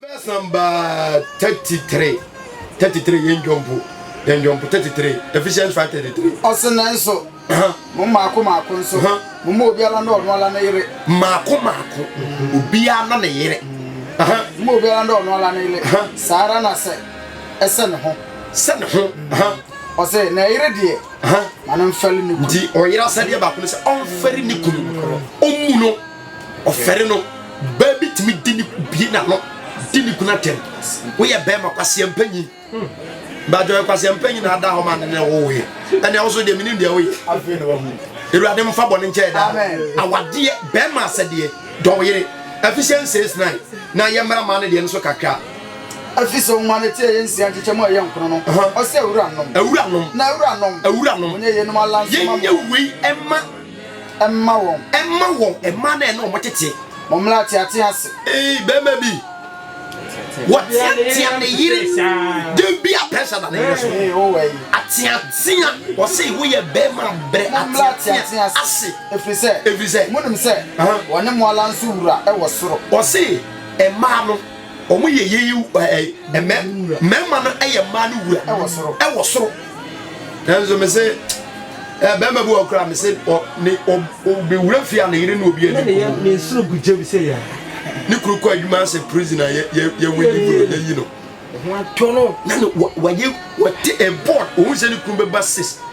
Verse number thirty three thirty three yɛn dwompo yɛn dwompo thirty three Ephesians five thirty three. Ɔsɛ nanso mo mmaako mmaako nso mo mma obiara na ɔno ala ne yere. Mmaako mmaako obiara na ne yere. Mma obiara na ɔno ala ne yere saa ara na sɛ ɛsɛ ne ho. Sɛ ne ho. Ɔsɛ na ɛyere deɛ ma no mfɛre ne kunu. Nti ɔyere asɛdeɛ baako no sɛ ɔmfɛre ne kunu ɔmmu no. Ɔfɛre no, baa bi tumi di ne bie n'ano di ne kunu atɛm. Woyɛ bɛrima kwasia mpanyin. Bàjọ́ yɛ kwasia mpanyin na ada hɔ ma ne ne wowoeɛ. Ɛnna ɛwɔ so deɛ menim deɛ woyɛ. Awurade mfa bɔne nkyɛ yɛ daa. Awadeɛ, bɛrima asɛdeɛ, dɔ wo yere. Ephesians 6 9 na yɛ mmara maa no deɛ no so kakra. Ɛfiri sɛ ɔnwa ne tiri a ɛyɛ nsia nkyekyɛ mu a ɛyɛ nkono no, ɔse, Awuranom. Awuranom. Na awuranom. Awuranom. Monyɛ yeinom alanso ma me. Yɛnyɛ wei mma. Mma wɔn. Mma wɔn mmaa no a ɛne wɔn tete. Wɔn mmra ateate ase. Ee, bɛrima bi. Wɔteatea ne yere. Den bi a pressure da ne yere so. Ee, wo wɔ yi. Ateatea. Wɔse wo yɛ bɛrima brɛ ateatea ase. Efiri sɛ. Efiri sɛ. Mo nim sɛ. Wɔne mo ala nso wura wɔ soro. Wɔse mmaa no. Wɔn yɛ yei ɛɛ mɛ mɛɛma no ɛyɛ mmaa no wura ɛwɔ soro ɛwɔ soro. Nanso me se ɛɛ bɛɛma bi wɔ kura me se ɔ ne ɔ ɔbɛ wura fi a ne yere ne obi ɛni. Ne yɛ me nsoro gu gye bi se yɛ. Ne kuru kɔ adwuma asɛ prison a yɛ yɛ yɛ wuli kuro yɛ yi no. Ho atɔ no. Na ne wa wa yɛ wa te ɛɛ board ohun se ne kuru bɛ ba sis.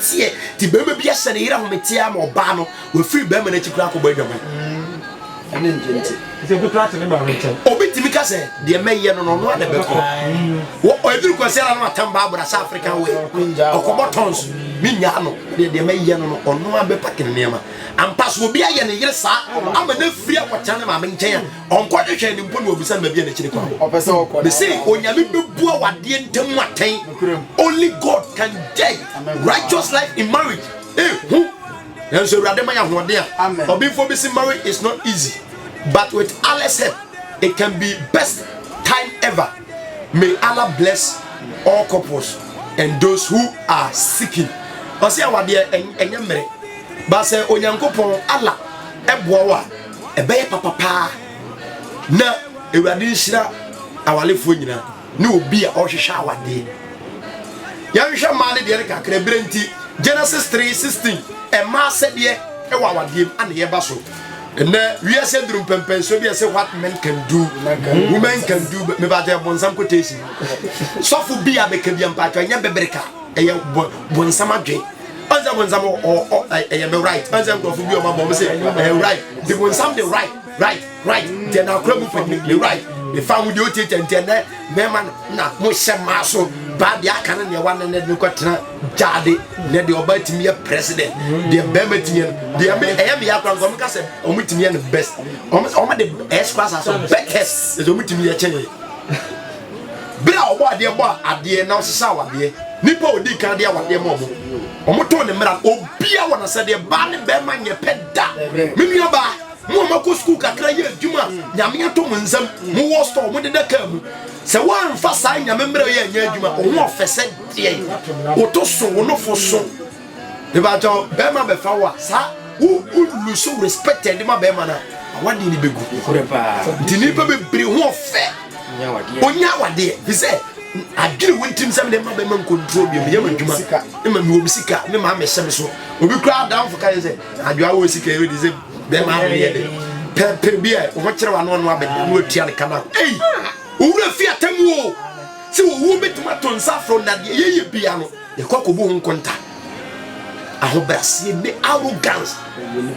Seɛ, nti barima bi ahyɛ ne yere ahome teɛ ama ɔbaa no, wafiri barima no akyi koraa akɔbɔ adwaman. Ɛne nte nte. Nti obi koraa te ne maame nkyɛn. Obi tumi ka sɛ, deɛ mɛyɛ no no, ɔno ara na ɛbɛkɔ. Wɔ, ɛduru Kwasi ara na watam Barbara sɛ African wear. Ɔkɔbɔ tons, mennyaa no. Deɛ, deɛ mɛyɛ no no, ɔno ara bɛpake ne nneɛma. Ampa, sɛ obi ayɛ ne yere saa, ama no afiri akɔtena ne maame nkyɛn a, ɔnkɔ hwehwɛ no mpo na ɔbisa no baabi a n'akyiri kwan wɔ me se onyame bɛbua wadeɛ ntam atɛn only god can judge righteous life in marriage eh hu nanso awurade ma yɛ ahoɔden a ɔbenfoɔ bi se marriage is not easy but with Allah's help it can be best time ever may Allah bless all couples and those who are seeking ɔsɛ awadeɛ ɛnyɛ mmerɛ ba sɛ onyankopɔn Allah ɛboa wo a ɛbɛyɛ papa paa na awurade nhyira awalefoɔ nyina ne obi a ɔhwehwɛ awadeɛ yɛnhwɛ mmaa ne deɛ no kakra berɛ nti genesis 3 16 ɛmaa sɛdeɛ ɛwɔ awadeɛ mu ana yɛba so ɛnɛ wiase duru mpɛmpɛnsoɔ bi ɛsɛ what men can do women can do mebaatɛ ɛbɔnsam kɔtɛsi sɔfo bi a bɛka bi ampaatwa ɛnyɛ bɛbreka ɛyɛ bɔnsam adwen ɔnsɛ bonsam ɛyɛ me right ɔnsɛ nkurɔfo bi ɔma bɔ ɔmo sɛ ɛyɛ right nti bonsam de right right right deɛ na akora mu pɛ ne right ne fa ho deɛ ɔtie kyɛ nti ɛnɛ mɛma na mo hyɛ maa so baa deɛ aka no deɛ wane ne de kɔ tena gyaade ne deɛ ɔba tumi yɛ president deɛ bɛrima tumi yɛ no deɛ me ɛyɛ me yɛ akora nka ɔmo ka sɛ ɔmo tumi yɛ no best ɔmo ɔmo de ɛyɛ sukuu asase bɛkɛs ɛsɛ ɔmo tumi yɛ kyɛn Bere a Ɔbɔadeɛ bɔɔ adeɛ na ɔsesaa awadeɛ, nnipa a odii kan de awadeɛ maa wɔn, wɔtoo ne mmara, obiara wɔ n'asɛdeɛ, baa ne barima nyɛ pɛ da. Me nuabaa, mo a moakɔ sukuu kakra yɛ adwuma a Nyame ato mo nsam, mowɔ store, modeda kaa mu, sɛ woamfa saa Nyame mmara yi anyɛ adwuma, wo ho ɔfɛ sɛ deɛn? Woto so, wo nofo so. Mebakyɛ bɛrima bɛfa wo a saa wo wo lusu respect ɛde ma bɛrima no a awadeɛ no bɛgu nti nnipa bebree ho ɔfɛ ɔnya awadeɛ fi sɛ adwene wo ntirim sɛ mede ma bɛma nkontrol bi meyɛ m'adwuma ma mewɔ me sika me maa mehyɛ me so obi koraa adamfo ka yɛ sɛ adwoa wɔ sika yɛ wode sɛ bɛrima adeɛ de pɛpɛ bi a ɔho kyerɛ wano ano abɛde ne watua ne kana ei owura fi atamu o sɛ owuo bɛtumi ato nsa afrɛ nnadeɛ yɛyɛ bia no Yɛkɔ akɔbu ho nkonta. Ahobrɛaseɛ ne arrogance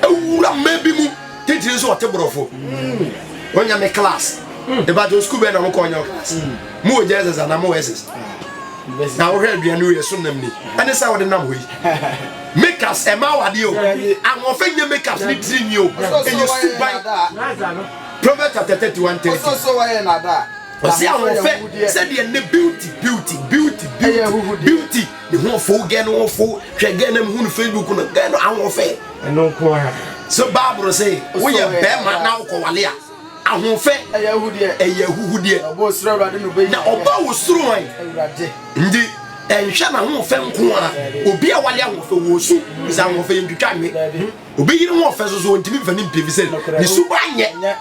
awura mmaa bi mu titiri nso ɔte borɔfo. Ɔnya me class. Ɛbɛgye sukuu bɛn na mokɔ ɔnya class. Mo wɔ Jesus anaa mo wɔ SS? Na wohwɛ aduane wei ɛso nam ni. Ɛne sɛ wode nam hɔ yi. Makeups ɛma awadeɛ o. Ahoɔfɛ nyɛ makeups ne tiri nwi o. Ɛyɛ suban. Proverbs chapter 31 30. Ɔsi ahoɔfɛ sɛdeɛ ne beauty beauty beauty beauty beauty ne ho ɔfo gɛ no ɔfo hwɛ gɛ nam hu no facebook no gɛ no ahoɔfɛ. Ɛno nko ara. So baaburo sɛ woyɛ bɛrima na wokɔwale a ahoɔfɛ ɛyɛ ahuhudeɛ ɛyɛ ahuhudeɛ na ɔba wo soro hwan nti ɛnhwɛ na ahoɔfɛ nko ara obi a wale ahoɔfɛ wɔ su sɛ ahoɔfɛ yɛntwitwa nwe Obeyiri ho ɔfɛ so so ontumi mfa ne mpire efisɛ ne suban nyɛ.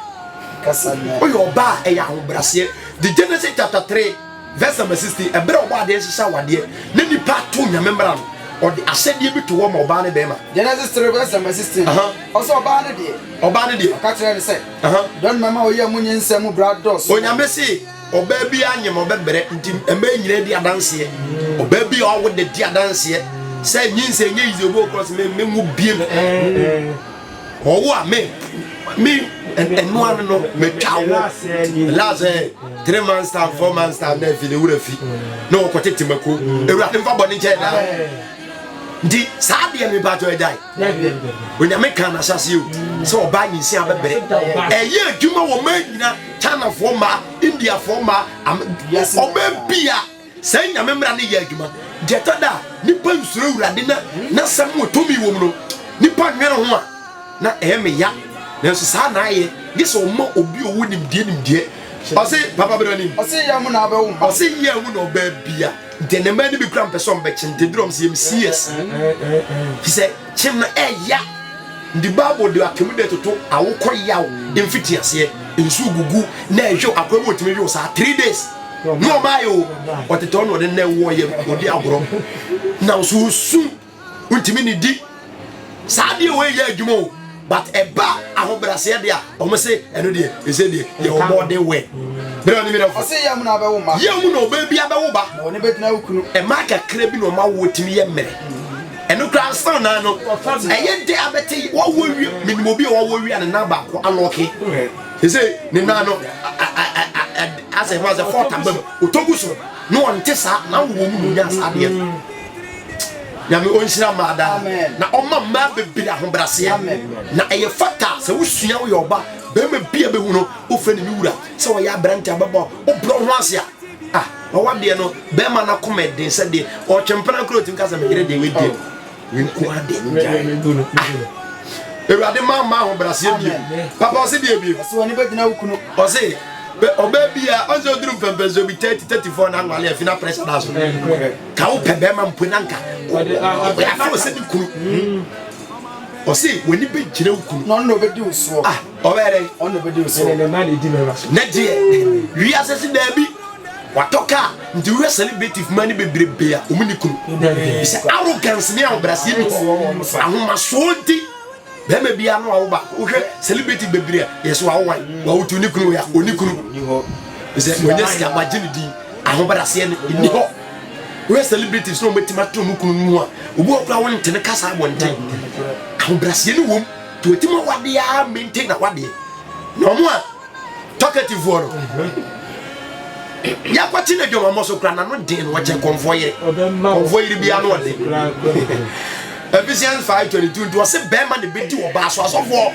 Oyɛ ɔbaa a ɛyɛ ahobraseɛ. The Genesis chapter three verse number sixteen ɛberɛ ɔbɔ adeɛ hyehyɛ awadeɛ na nipa to nyame mmara no ɔde ahyɛdeɛ bi to hɔ ma ɔbaa ne bɛrima. Genesis three verse number sixteen ɔsɛ ɔbaa ne deɛ. Ɔbaa ne deɛ. Ɔka kyerɛ ne sɛ. Dɔn mɛma oyɛ mu nyinsɛn mu bra dɔɔso. Onyame se. Ɔbaa bi anyem ɔbɛbrɛ nti mmaa nyinaa di adanseɛ. Ɔbaa bi a ɔwo de di adanseɛ sɛ nye nsɛ nye yize obi okura sɛ me nwo biem. Ɔwo a me me ɛno ano no metwa wo last eh, three months time four months time na efi ne wura fi na ɔkɔtete mako. Ewurade mfa bɔ ne nkyɛn daa. Nti saa deɛ mepatɔ agyae. onyame kaa n'asase o sɛ ɔbaa nyinsia bɛbrɛ ɛyɛ adwuma wɔ maa nyina chinafoɔ ma indiafoɔ ma ɔma bia saa nyame mmara no yɛ adwuma deɛ ɛtɔ da a nipa nsuro awurade na n'asɛm wɔ tumi wɔ mu no nipa nwene ho a na ɛyɛ meya nanso saa na ayɛ gye sɛ ɔma obi ɔwɔ nimdeɛ nimdeɛ ɔse papa berɛ nim ɔse yɛ mu na ɔbɛwo ɔse yɛ mu na ɔbɛbia Nti ne mmaa no bi kura mpɛ sɛ ɔmbɛkye nti duru ɔm sɛ yɛm CS fi sɛ kyem no ɛya nti Bible de atemu dɛ toto awokɔ yaw mfiti aseɛ nsuo gugu na ɛhwɛ akora bi ɔtumi hwɛ saa three days ne ɔmaayɛ o ɔtetɛ ɔno ɔde nnɛ wɔ yɛ ɔde agorɔ na nso osu wontumi ne di saa deɛ wei yɛ adwuma o but ɛba ahobraseɛ deɛ a wɔn se ɛno deɛ ɛsɛ deɛ yɛ wɔn ɔden wɛ bere a ne mìíràn fo yɛ mu na ɔbɛwo ma yɛ mu na ɔbɛ bi abɛwo ba na ɔne bɛgyina okunu ɛmaa kakra bi na ɔma wo tumi yɛ mmerɛ ɛno kora nsan naa no ɛyɛ dɛ abɛte wɔwɔ wie menim obi a wɔwɔ wie a ne nan baako alɔke ɛsɛ ne nan no asɛ ho asɛ fɔɔta bam ɔtɔgu so na ɔnte saa na wowɔ mu na ɔnya saa adeɛ no Nyame ɔnhyira mmaa daa na ɔma mmaa bebree ahobraseɛ na ɛyɛ fata sɛ wosua woyɛ ɔba bɛrima bi a bɛhu no wofrɛ ne me wura sɛ wɔyɛ aberante a bɛbɔ wobrɔ ho ase a ah wawadeɛ no bɛrima no akoma ɛden sɛ deɛ ɔtwempena kora ɔtumi ka sɛ meyere deɛ wedeɛ wenko adeɛ ngyae awurade ma ma ahobraseɛ bio papa ɔse deɛ bio ɔse ɔbaa bi a ɔnsɛ ɔduru mpɛmpɛnso bi 30 34 na anwale afi na pressure da so ka wo pɛ bɛrima mpo na nka afo sɛ ne kunu hmm. ɔse w'ani bɛgyina wo kunu ɔno na ɔbɛdi wo soɔ ah, ɔbɛyɛ dɛ ɔno na ɔbɛdi wo soɔ na gyeɛ wiase se daabi watɔ kaa nti wohwɛ celebrative ma ne bebrebe a ɔmu ne kunu sɛ arrogance ne ahobraseɛ bi hɔ ahomasoɔ nti Bɛɛma biaa no wawo ba wo hwɛ celebrity bebiree a yɛsɛ wawo wan wawo tu ne kunu ya oni kunu sɛ wɔnyɛ sika wagye ne din ahobrɛaseɛ no nni hɔ wohwɛ celebrities na wɔbɛtumi atena mu kunu no mu a obi wɔ kora wo nte ne kasa abɔnten ahobrɛaseɛ no wom nti wɔtumi awadeɛ a maintain awadeɛ na ɔmo a Talkativefoɔ no yɛakɔ te no adwamammɔ so kora nano den no wɔkyɛ kɔmfoɔ yere kɔmfoɔ yere bia no ɔde Ephesians 5:22 nti ɔse bɛrima ne bɛdi ɔbaa so asɔfoɔ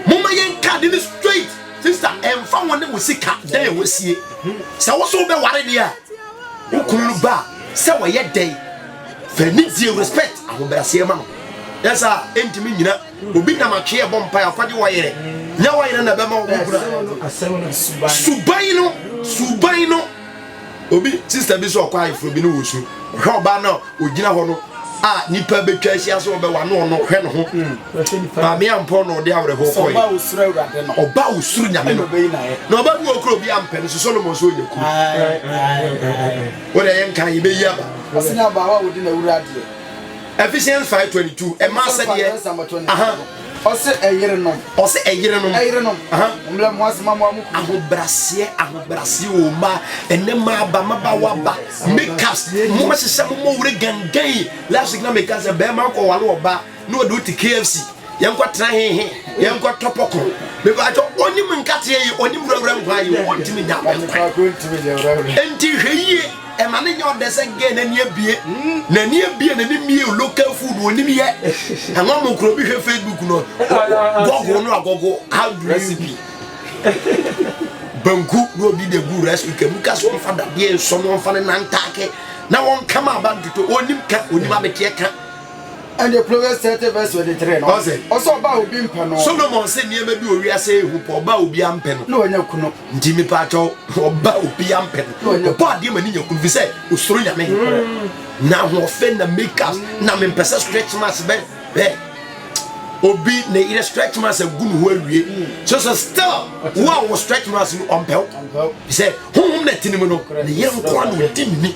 moma yɛn ka de no straight sista ɛmfa wo ne wo sika dɛn ɛwɔ sie sɛ wo so wobɛware deɛ a wo kunu no ba sɛ wɔyɛ dɛn fɛ ne die respect ahobrɛaseɛ ma no ɛsa ɛntumi nyina Obi nam atwee ɛbɔ mpae ɔkɔgye wayere nyɛ wayere na ɛbɛma wɔn kura suban no suban no obi sista bi so ɔkɔ ayeforo bi ne wɔ su ɔhwɛ ɔbaa no a ɔgyina hɔ no a nipa bɛtwa ahyia sɛ ɔbɛwa no ɔno hwɛ no ho maame ampɔ na ɔde awerɛhoɔ kɔe ɔba a ɔsuro nyame no na ɔba bi ɔkura obi ampɛ no so solomon so ɔnya kuru wode ɛyɛ nka yɛbɛyi aba Ephesians 5:22 ɛma asɛdeɛ aha ɔsɛ ɛyerenom ɔsɛ ɛyerenom ɛyerenom aha mmerɛ mo asɛm amoa mo kunu ahobraseɛ ahobraseɛ o ma ɛnɛ ma aba ma ba wa ba makeups mo ma hyehyɛ mo mo wore gangan yi last week na meka sɛ bɛrima nkɔ wale ɔba na ɔde wo te KFC yɛnkɔ tena hehe yɛnkɔ tɔ pɔkɔ bɛbɛ atwa onim nkateɛ yi onim wurawura nkwa yi o ɔntumi nya ɔkwa ɛnti hwɛ yie Ɛma no nyɛ ɔdɛ sɛ girl no ani abue N'ani abue n'ani mmieo local food onim yɛ Ɛma mo kura obi hwɛ Facebook no Gɔgo no agɔgo how do you Recipe Banku na obi de gu rice cooker mu ka sɛ ɔmfa dadeɛ nsɔ no ɔmfa no nantaake na wɔnka ma aba ntoto Onim ka onim abeteɛ ka Ɛnde Proverbs thirty verse twenty three no, ɔse, ɔsɛ ɔba a obi mpɛ no. Solomon se nneɛma bi wɔ wiase yɛ hu pɔ, ɔba a obi ampɛ no. Na wanya kunu. Nti mepa atwɔ, ɔba a obi ampɛ no. Na wanya. Ɔbɔ adeɛ ma ne nya kunu, fi sɛ osoro nyame. Nokorɛ. Na ahoɔfɛ na makeups, na mempɛ sɛ stretch marks bɛ, bɛ. Obi ne yere stretch marks agu ne ho awie, so so still wo a wɔ stretch marks no ɔmpɛ wo. Ɔmpɛ wo. Fi sɛ honhom na ɛte ne mu no, ne yere nkoa na ɔdi ne ni.